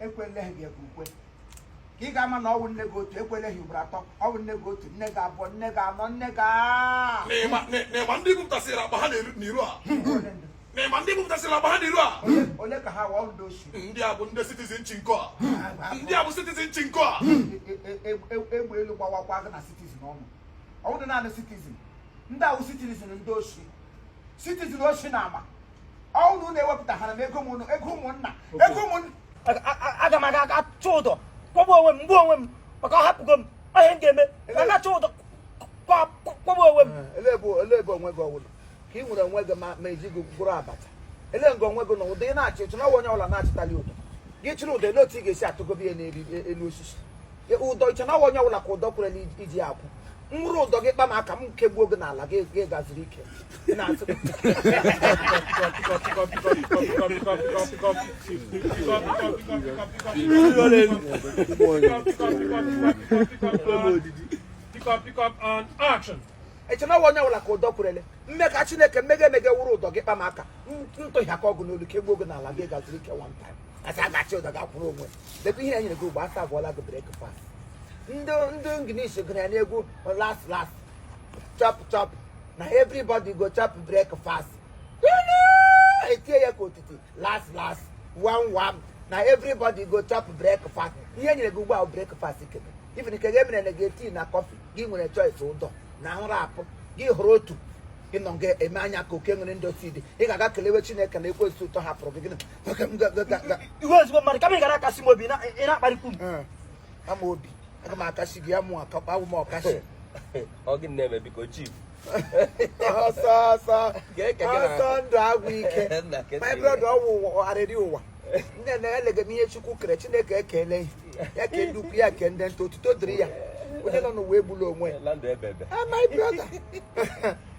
ekweleghị gị ebe ukwe ka ị ga-ama na ọ wụ nne gị otu ekweleghị ugboro atọ ọ wụ nne gị otu nne gị abụọ nne gị anọ nne gị aa n'ịma n'ịma ndị bupụtasịrị akpa ha n'iru n'iru a Ole ndị? n'ịma ndị bupụtasịrị akpa ha n'iru a Ole- ole ka ha wụ ndị oshi ndị a bụ ndị citizen chinko a ndị a bụ citizen chinko a E- e- e- e- egbe elu gbawakwa gị na citizen ọnụ ọ wụdị naanị citizen ndị a wụ citizen ndị oshi citizen oshi na ama ọ wụ na unu ewepụtaghara m ego ụmụnna ego ụmụnna ego ụmụnna aga m aga achị ụdọ kwụgbuo onwe m m gbuo onwe m maka ọ hapụgo m ihe m ga-eme aga achị ụdọ kwụgbuo onwe m elee ebe onwe gị ọwụlụ ka ị nwere onwe gị ma e ji gị gwọrọ abacha ele nga onwe gị na ụdọ ị na-achị i che na onye ọbụla na-achịtali ụdọ gị chịrị ụdọ ele otu ị ga-esi atụgobi ya n'elu osisi ụdọ i che na onye ọbụla ka ụdọ kwerela iji akwụ nwụrụ ụdọ gị kpa m aka m kegbuo gị n'ala gị gaziri ike Ị na-asị gị, i che na ọ wa onye ọbụla ka ụdọ kwerele mme ka Chineke mmega emege wụrụ ụdọ gị kpa m aka m tụhịa ka ọgụ n'olu kegbuo gị n'ala gị gaziri ike one time a sị a ga-achị ụdọ ga-akwụrụ onwe debe ihe e nyere gị ugbu a a servụọla gị breakfast ndị ndị English gụrụ ya n'egwu las las chop chop na everybody go chop breakfast e tie ya ka otiti las las wam wam na everybody go chop breakfast ihe e nyere gị ugbu a wụ breakfast kebe ife nke gị emere na gị tii na kọfị gị nwere choice ụdọ na nra apụ gị hụrụ otu ị nọ nga eme anya ka oke nwere ndị osi dị ị ga-aga kelewe Chineke na ekwensu tọhapụrụ gị gịnị ị wụ ezigbo mmadụ kama ị gara akasị m obi ị na-akparịkwu m eh, ama obi aga m akasị gị ya mụ akakpa awụ m ọkasị ọ gị na-eme biko chief ọsọ ọsọ ọsọ ndụ agwụ ike my brother ọ wụ arịrị ụwa nne na elega m ihe Chukwu kere Chineke ekele ya kee ndị ukwu ya kee ndị nta otuto dịrị ya onye nọ n'ụwa egbula onwe ya ah, my brother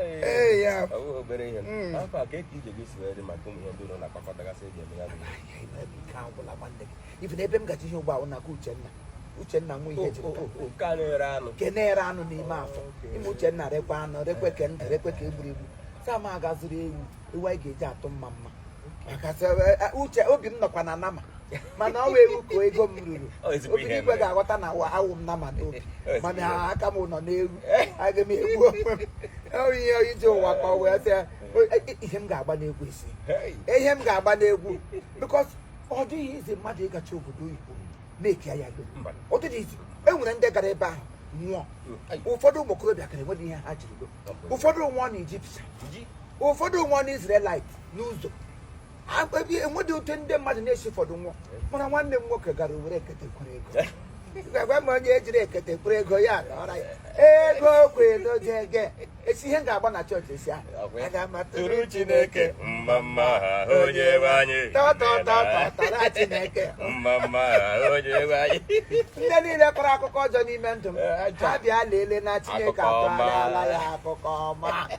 Ee, ya. Ọ bụ obere ihe. Mm. Afọ a ka eke ije gị si wee dị maka ụmụ ihe ndị ụlọ na-akpakọtagasị eji eme ya bụ ihe. Nke a gwụla nwanne gị. Ife na ebe m gaji ihe ugbu a bụ n'aka Uchenna. Uchenna nwa ihe O- jiri o- taa. o- Nke a na-ere anụ. nke na-ere anụ n'ime afọ Okay. ime Uchenna rekwa anụ rekwe ke ndụ rekwe ke e gburu egbu saa m aga azụrụ ewu ewu anyị ga-eji atụ mmamma uche obi m nọkwa na nama mana ọ wụ ewu ka ego m ruru Obinigwe ga-aghọta na awụ m nama n'obi mana aka m nọ n'ewu aga m egbu onwe m ọrụ ihe ije ụwa ka ọ wụ isi ihe m ga-agba n'egwu isi ihe m ga-agba n'egwu because ọ dịghị easy mmadụ ịgachi obodo oyibo na-eki ya ego ọ dịghị easy e nwere ndị gara ebe ahụ nwụọ ụfọdụ ụmụ okorobịa gara enweghị ihe ha jiri ụfọdụ nwụọ na ijipsa ụfọdụ nwụọ na Israelite n'ụzọ enweghị otu ndị mmadụ na-esi ụfọdụ nwụọ mana nwanne m nwoke gara were ekete kwuru ego gwa m onye ejiri ekete kwuru ego ya ọra ya ego kwelu jege esi ihe m ga-agba na chọọchị esi ahụ aga m atụrụ Tụrụ Chineke mma mma ha onye nwe anyị. tọtọtọtọtara Chineke Mma mma ha onye nwe anyị. ndị niile kọrọ akụkọ ọjọọ n'ime ndụ m Eh, aja. ha bịa leele na Chineke Akụkọ ọma. akọrọla ya akụkọ ọma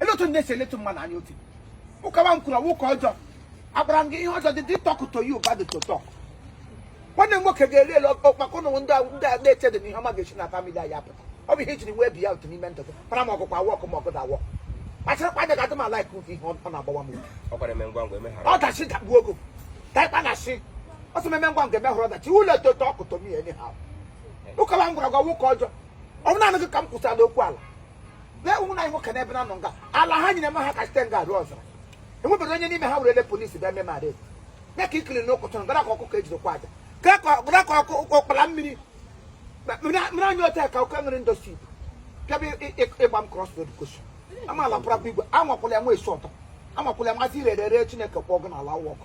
ele otu ndị esi eletu mmadụ anya otu ụkawa m kwuru ọ wụ ụka ọjọọ agbara m gị ihe ọjọọ dị dị talk to you bad to talk nwanne m nwoke ga-eri ele ọkpakọ na ndị ahụ- ndị a na-eche dị na ihe ọma ga-esi na famili anyị apụta ọ bụ ihe ijiri wee bi ya otu n'ime ndụ gị para m ọgụkwa awọ ọkụ ma ọgụ awọ kpachara anya ga-adị m ala ike ihe ọ na-agbawa m uche. ọ kwara eme ngwa ngwa emeghara ọdachi dagbuo ogo taịkpa na shi ọ sị m eme ngwa ngwa eme hụrụ ọdachi ụlọ eto talk to me enyi ha ụkawa m gwara gị ọ wụ ụka ọjọọ ọ bụ naanị gị ka m kwụsịala okwu ala bee ụmụ na nwoke n'ebe na nọ nga ala ha nyere m ha ka site nga arụ ọzara enwebere onye n'ime ha were ele polisi bịa mee mara ya ka ikiri na ụkọchọrọ gara ka ọkụkọ ejidekwa aja gara ka ọkpara mmiri mmiri anya ote ka oke nwere ndọsi ibu bịaba ịgba m cross road kosu amaala pụrapụ igwe anwakwụla ya nwa esi ọtọ amakwụla ya masị irere ere Chineke kpọọ gị n'ala ọkụ